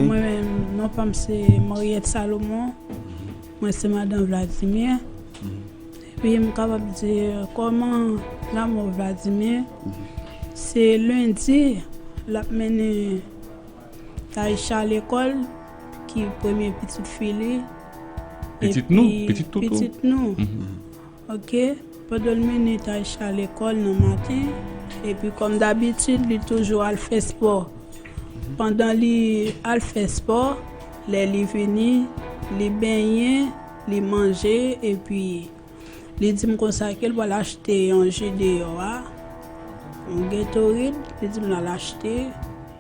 Mwen menm non pa m se Mariette Salomon Mwen se madan Vladimir epi m kapab di kòman lanmò Vladimir se lendi l ap mennen Taïsha lekòl ki premye pitit fi li. Pitit nou, pitit toutou. Pitit nou. Ok, pandan l mennen Taïsha lekòl nan maten, epi kòm dabitid li toujou al fè spò. Pandan li al fè spò, lè li vini, li benyen, li manje epi. Li di m konsa ke l pral achte yon je deyò a, yon Gatorade, li di m l al achte,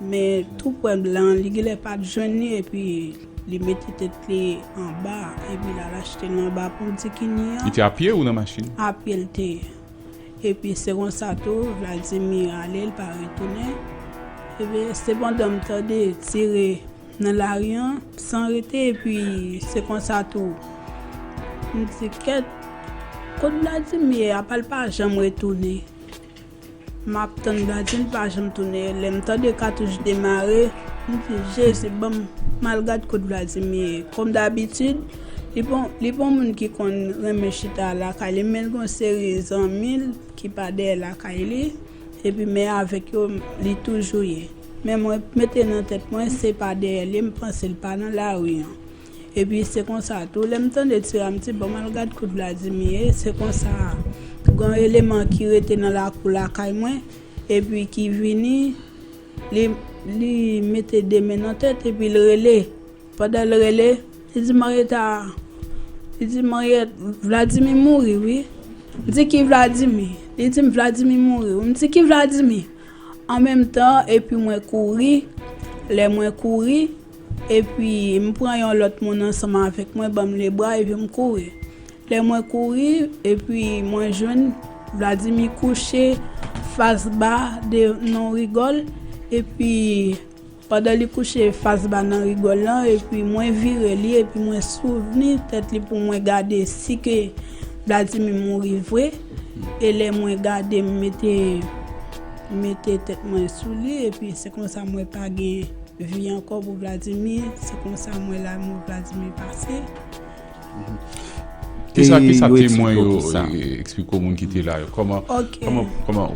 men tou pwen blan an, li genlè pa t jwenn li epi li mete tèt li anba, epi l al achte l anba pon Dikini an. Li te a pye ou nan machin? A pye l te ye. Epi se konsa tou Vladimir ale, l pa retounen. Epi sepandan m tande tire. Nan lari an san rete epi se konsa tou m di kèt kot bladim ye apa l pa janm retounen m ap tann bladim l pa janm tounen lè m tande katouch demare m di jezi banm m al gad kot bladim ye kòm dabitid li pa yon moun ki konn renmen chita lakay li men l gen yon seri zanmi l ki pa dèyè lakay li. Epi men avèk yo li toujou ye. Men mwen mete nan tèt mwen se pa dèyè li m panse l pa nan lari an. Epi se konsa tou lè m tande ti Ram di bon m al gad kou Vladimir ye se konsa gen yon eleman ki rete nan lakou lakay mwen epi ki vini li mete de men nan tèt epi l rele. Pandan l rele, li di Marietta, li di Mariette, Vladimir mouri wi. M di ki Vladimir? Li di m Vladimir mouri wi. M di ki Vladimir? An menm tan epi mwen kouri, lè mwen kouri epi m pran yon lòt moun ansanm avèk mwen ban m lebra epi m kouri. Lè mwen kouri epi mwen jwenn Vladimir kouche fas ba devan yon rigòl epi. Pandan li kouche fas ba nan rigòl lan epi mwen vire li epi mwen souvni tèt li pou mwen gade si ke Vladimir mouri vre e lè mwen gade m mete mete tèt mwen sou li epi se konsa mwen pa gen vi ankò pou Vladimir se konsa mwen la mò Vladimir pase. Ki sa ki sa temwen yo eksplike ou moun ki te la yo? Koman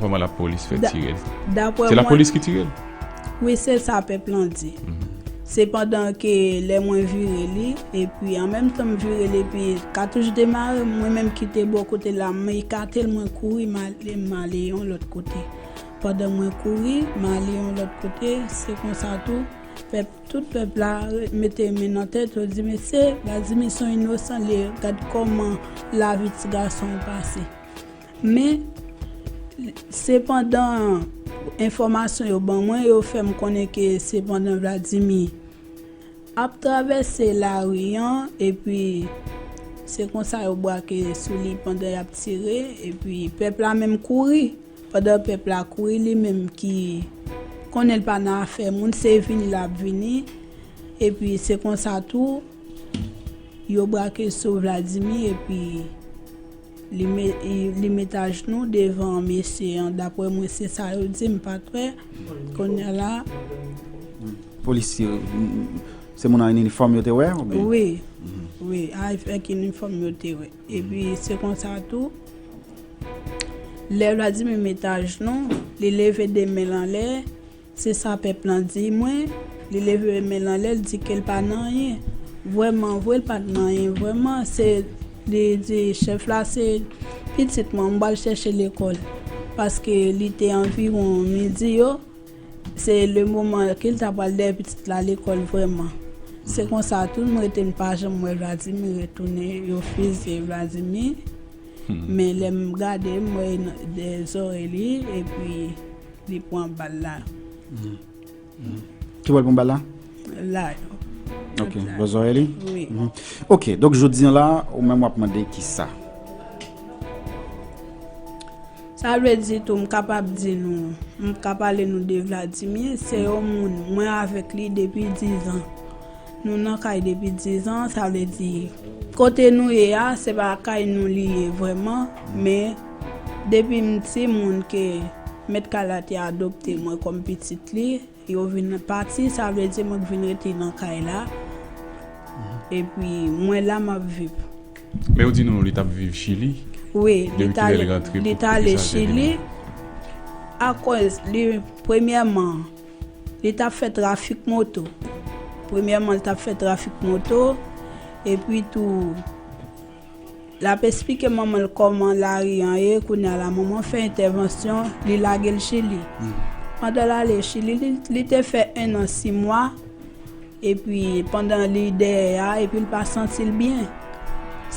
koman la polis fè tirel? Se la polis ki tirel? Wi se sa pèp lan di. Se pandan ke lè mwen vire li epi an menm tan m vire li epi katouch demare mwen menm ki te bò kote la m ekatel mwen kouri m ale m ale yon lòt kote. Pandan mwen kouri m ale yon lòt kote se konsa tou pèp Tout pèp la mete men nan tèt yo di mesye Gazimir son inosan li ye gad kòman lavi ti gason an pase men sepandan enfòmasyon yo ban mwen yo fèm konnen ke sepandan Vladimir ap travèse lari an epi se konsa yo brake sou li pandan yap tire epi pèp la menm kouri. Pandan pèp la kouri li menm ki konnen l pa nan afè moun se vini l ap vini epi se konsa tou yo brake sou Vladimir epi li met ajnou devan mesye an daprè mwen se sa yo di m pa trè konnen la. Polisye se moun an inifòm yo te wè oubyen? Wi avèk inifòm yo te wè. Epi se konsa tou, lè Vladimir met ajnou, li leve 2 men l anlè, se sa pèp lan di mwen, li leve men l anlè, li di ke l pa nan anyen. Vrèman vre, l pa t nan anyen vrèman. Se, li di chèf la se pitit mwen, m pral chèche lekòl. Paske li te anviwon midi yo. Se le moman ke li ta pral dèyè pitit la lekòl vrèman. Se konsa tou m rete m pa janm wè Vladimir retounen, yo fizye Vladimir. Men lè m gade m wè de zorèy li epi li pran bal la. Ki bò l pran bal la? La yo. Ok, bò zorèy li? Wi. Ok, donk jodi an la ou menm w ap mande kisa? Sa vle di tou m kapab di nou, m ka pale nou de Vladimir, se yon moun mwen avèk li depi dizan. Nou nan kay depi dizan, sa vle di kote nou ye a, se pa kay nou li ye vrèman, men depi m timoun ke mèt kay la te adopte mwen kòm pitit li. Yo vin pati sa vle di mwen k vin rete nan kay la epi mwen la map viv. Men yo di nou li tap viv chili wi li t ale li t ale chili akoz li premyèman li tap fè trafik moto premyèman li tap fè trafik moto epi tou. Lap esplike manmanl kòman lari an ye kounya la manman fè entèvansyon li lagel chili pandan lale chili li te fè 1 an 6 mwa epi pandan li dèyè a epil pa santil byen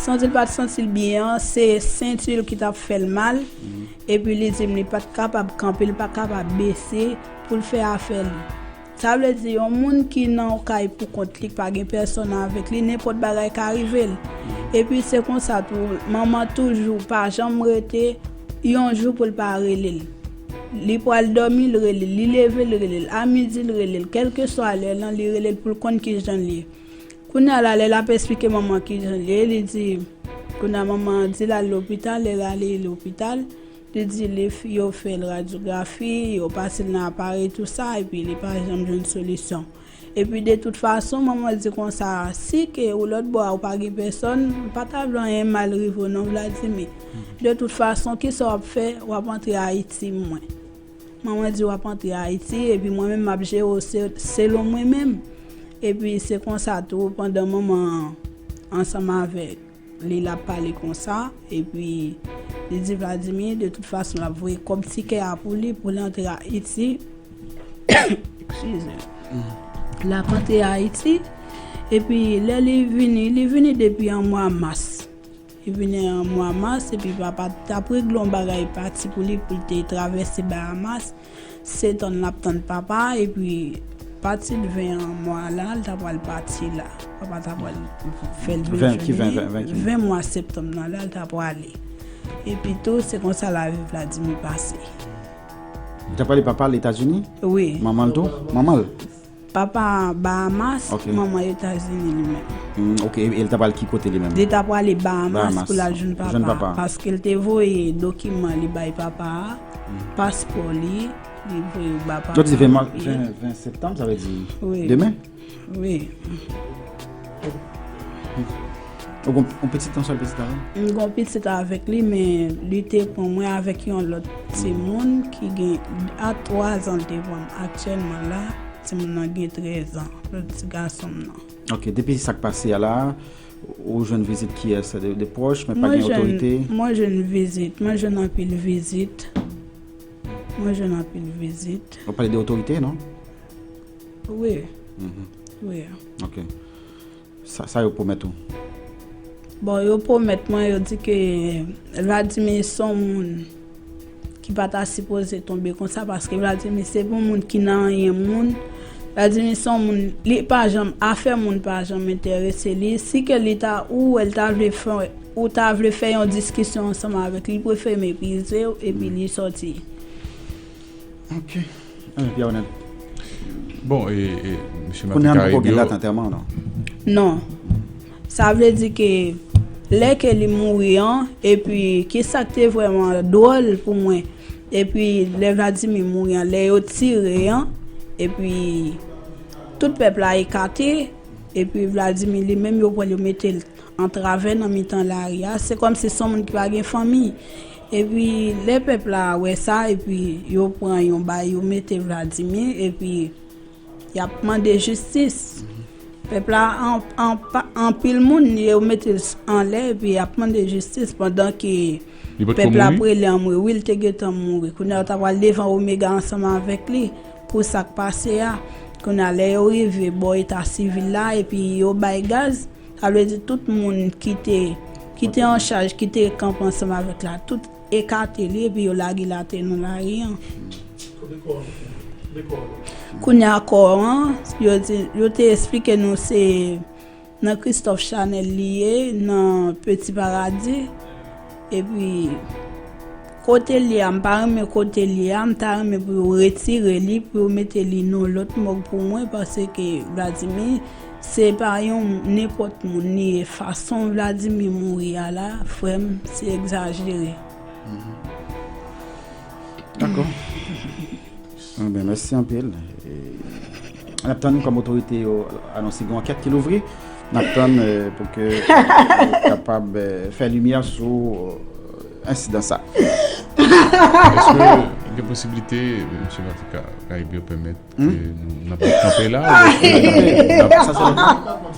santil pat santil byen an se sentil ki tap fèl mal epi li dim li pat kapab kanpe li pat kapab bese poul fè afè li. Sa vle di yon moun ki nan yon kay pou kont li, k pa gen pèsonn avèk li, nenpòt bagay ka rive l. Epi se konsa tou, manman toujou pa janm rete yon jou pou l pa rele l. Li pral dòmi l rele l, li leve l rele l, a midi l rele l, kèlkeswa lè lan li rele l pou l konn ki jan l ye. Kounye a la lè l ap esplike manman an ki jan l ye, li di, kounye a manman an di l al lopital, lè l ale lopital, Li di li yo fè l radyografi, yo pase l nan aparèy tou sa epi li pa janm jwenn solisyon. Epi de tout fason, manman di konsa, si ke ou lòt bò a ou pa gen pèsòn, m pa ta vle anyen mal rive w non Vladimi. De tout fason, ki sa w ap fè? W ap antre Ayiti mwen. Manman di w ap antre Ayiti epi mwen menm m ap jere w selon mwen menm. Epi se konsa tou pandan manman ansanm avèk. Li la pale konsa, epi li di Vladimir de tout fason lap voye kòb tikè a pou li pou l antre Ayiti. Excuse. Lap antre Ayiti, epi lè li vini, li vini depi an mwa mas. Li vini an mwa mas, epi papa tap regle yon bagay pati pou li pou l te travèse Bahamas. Se tann lap tann papa epi pati l 20 an mwa la li ta pral pati la papa ta pral fèl vin jwenn li 20 mwa septanm nan la li ta prale epi tou se konsa lavi Vladimir pase. Li ta prale papa l etazini? Wi. Manman l tou? Manman l? Papa Bahamas, manman Etazini li menm. Ok, e li ta pral ki kote li menm? Li ta prale Bahamas pou lal jwenn papa a. Paske li te voye dokiman li bay papa a, paspò li, li voye yo ba papa a. Jodi 20 septanm, sa vle di demen? Wi. Ou gen yon pitit yon sèl pitit avèl? M gen yon pitit avèk li men li te pran mwen avèk yon lòt timoun ki gen a 3 zan l te pran m aktyèlman la timoun nan gen 13 zan lòt ti gason m nan. Ok depi sak pase a la ou jwenn vizit kiyès de pwòch men pa gen otorite? Mwen jwenn vizit mwen jwenn anpil vizit mwen jwenn anpil vizit. Wap pale de otorite non? Wi. Wi. Ok. Sa yo pwomèt ou? Bon, yo pwomèt mwen, yo di ke Vladimir son moun ki pa ta sipoze tonbe konsa, paske Vladimir se pou moun ki nan anyen moun. Vladimir son moun, li pa janm, afè moun pa janm enterese li. Si ke li ta, ou wè li ta vle fè, ou ta vle fè yon diskisyon ansanm avèk li, li prefere meprize ou epi li sòti. Ok. Anmweyy Pierre Honnête Bon e misye Macky Caraïbes yo Kounya poko gen dat antèman non Non Sa vle di ke Lè ke li mouri an Epi kisak te vrèman dwòl pou mwen Epi lè Vladimir mouri an Lè yo tire an Epi Tout pèp la ekate Epi Vladimir li menm yo pranl yo metel Antrave nan mitan lari a Se kòmsi son moun ki pa gen fanmi Epi lè pèp la wè sa, epi yo pran yon bay yo mete Vladimir, epi yap mande jistis. Pèp la anpil moun yo mete l anlè epi yap mande jistis pandan ke pèp la ap rele anmwe wi l te gentan mouri. Kounye a yo ta pral devan Omega ansanm avèk li pou sak pase a. Kounye a lè yo rive bò eta sivil la epi yo bay gaz. Sa vle di tout moun ki te ki te an chaj, ki te kanpe ansanm avèk la, tout ekate li epi yo lage li atè nan lari an. Kounye a kò an, yo di, yo te esplike nou se nan Christophe Chanel li ye nan Petit Paradis, Epi kotel ye a mpa renmen kotel ye a mta renmen pou yo retire li pou yo mete li non lòt mòg pou mwen paske Vladimir se pa yon nenpòt moun li ye fason Vladimir mouri a la frèm se egzajere. Dakò. Anben mèsi anpil nap tann kòm otorite yo anonse gen yon ankèt ki louvri nap tann pou ke yo kapab fè limyè sou ensidan sa. Eske gen posiblite Mesye Latika Caribe pèmèt ke nou nap kanpe la ou byen eske nap.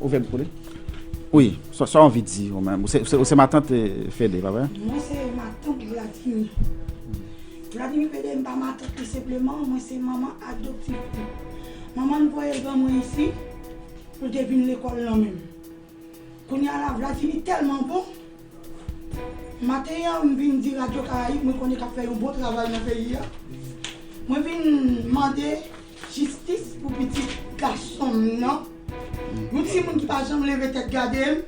Ouvè micro li. Wi, sa w anvi di ou menm? Ou se matant Fede, pa vre? Mwen se matant Vladimir. Vladimir Fede m pa matant li senpleman, mwen se manman adoptif li. Manman l voye l ban mwen isi pou l te vin lekòl nan menm. Kounye a la, Vladimir tèlman bon, maten an m vin di radyo Karayib mwen konnen k ap fè yon bon travay nan peyi a, mwen vin mande. Jistis pou pitit gason m nan. Yon timoun ki pa janm leve tèt gade m.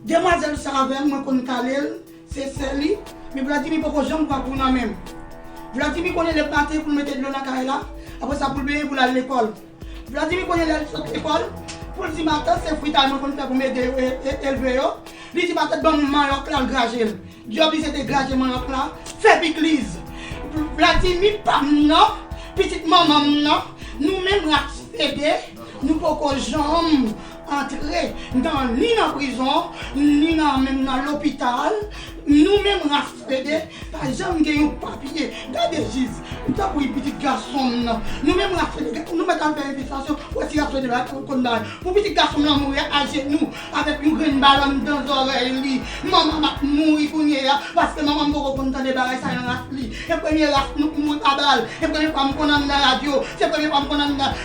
Demwazèl sa avè m, mwen konn kale l, se sè li. Men Vladimir poko janm pran kou nan men m. Vladimir konnen lè maten pou l mete dlo nan kay la, apre sa pou l benyen pou l al lekòl. Vladimir konnen lè l sot lekòl, pou l di matant se fritay mwen konn fè pou m ede yo elve yo. Li di matant ban m manyòk la, l graje l. Djòb li se te graje manyak la, fè pikliz. Vladimi pam nan, pitit manman m nan, nou menm rat fede, nou poko janm antre nan ni nan prizon, ni nan menm nan lopital, nou menm rat fede pa janm gen yon papye. Gade Jiz, m tanpri pitit gason m nan, nou menm rat fede, nou mèt al fè envestigasyon pou wè si rat fede pa konn bagay. Pou pitit gason m lan mouri ajenou. Avèk yon grenn balòn dan zòrèy li. Manman m ap mouri kounye a, paske manman m poko konn tande bagay sa nan raf li. Se premye raf nou k mouri pa bal. Se premye fwa m konn ann nan radyo. Se premye fwa m konn ann nan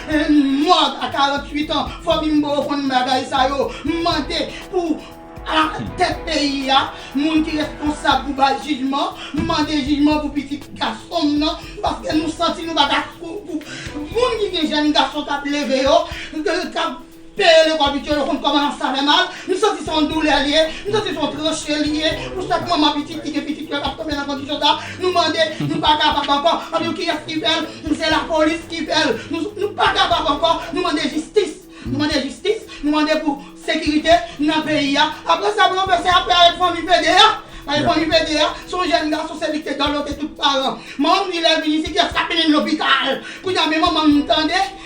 mòg a 48 an. Fòbi m poko konn bagay sa yo. M mande pou alatèt peyi a, moun ki responsab pou bay jijman. M mande jijman pou pitit gason m nan, paske nou santi nou pa ka moun ki gen jèn gason k ap leve yo, k ap. Peye lekòl pitit yo, yo konn kòman sa fè mal, m santi se yon doulè li ye, m santi se yon tranche li ye pou chak manman pitit ki gen pitit yo k ap tonbe nan kondisyon sa, nou mande nou pa kapab ankò, annou kiyès ki fè l, se lapolis ki fè l, nou pa kapab ankò, nou mande jistis, nou mande jistis, nou mande pou sekirite nan peyi a. Aprè sa pou yo fè sa y ap fè avèk fanmi Fede a, paske fanmi Fede a se yon jèn gason se li ki te dòlote tout paran, manman m di lè l vin isi kiyès k ap mennen l lopital, kounye a men manman m tande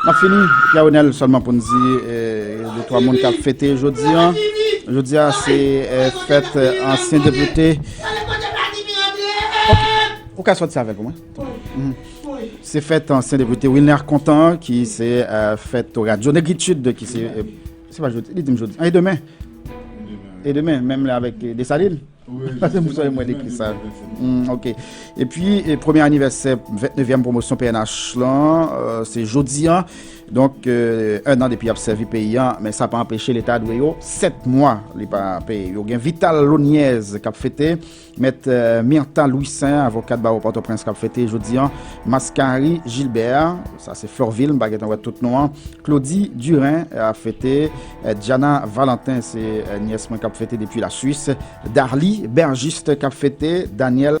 Nap fini Pierre Renel selman pou nou di de 3 moun kap fete jodi an. Jodi an se fete ansyen depute. Ou ka soti avèl pou mwen. Se fete ansyen depute Wilner Content ki se fete radio Negritude ki se se pa jodi, li dim jodi. E demen? E demen menm lè avèk Dessalines? Pase mou soye mwen dekri sa. Hmm, ok. E pi, premye anivèsè, 29èm promosyon PNH lan, euh, se jodi an. Donk, euh, un an depi ap sèvi peyi an, men sa pa anpeche leta dwe yo 7 mwa li pa peye. Yo gen Vital Loniez kap fete, met euh, Myrtha Louis Saint, avokat baro Port-au-Prince kap fete jodi an, Mascari Gilbert, sa se Florville, mba gen tan wè tout nou an, Claudie Durin ap fete, Diana Valentin se nyès mwen kap fete depi la Suisse. Darly Bergiste kap fete Daniel.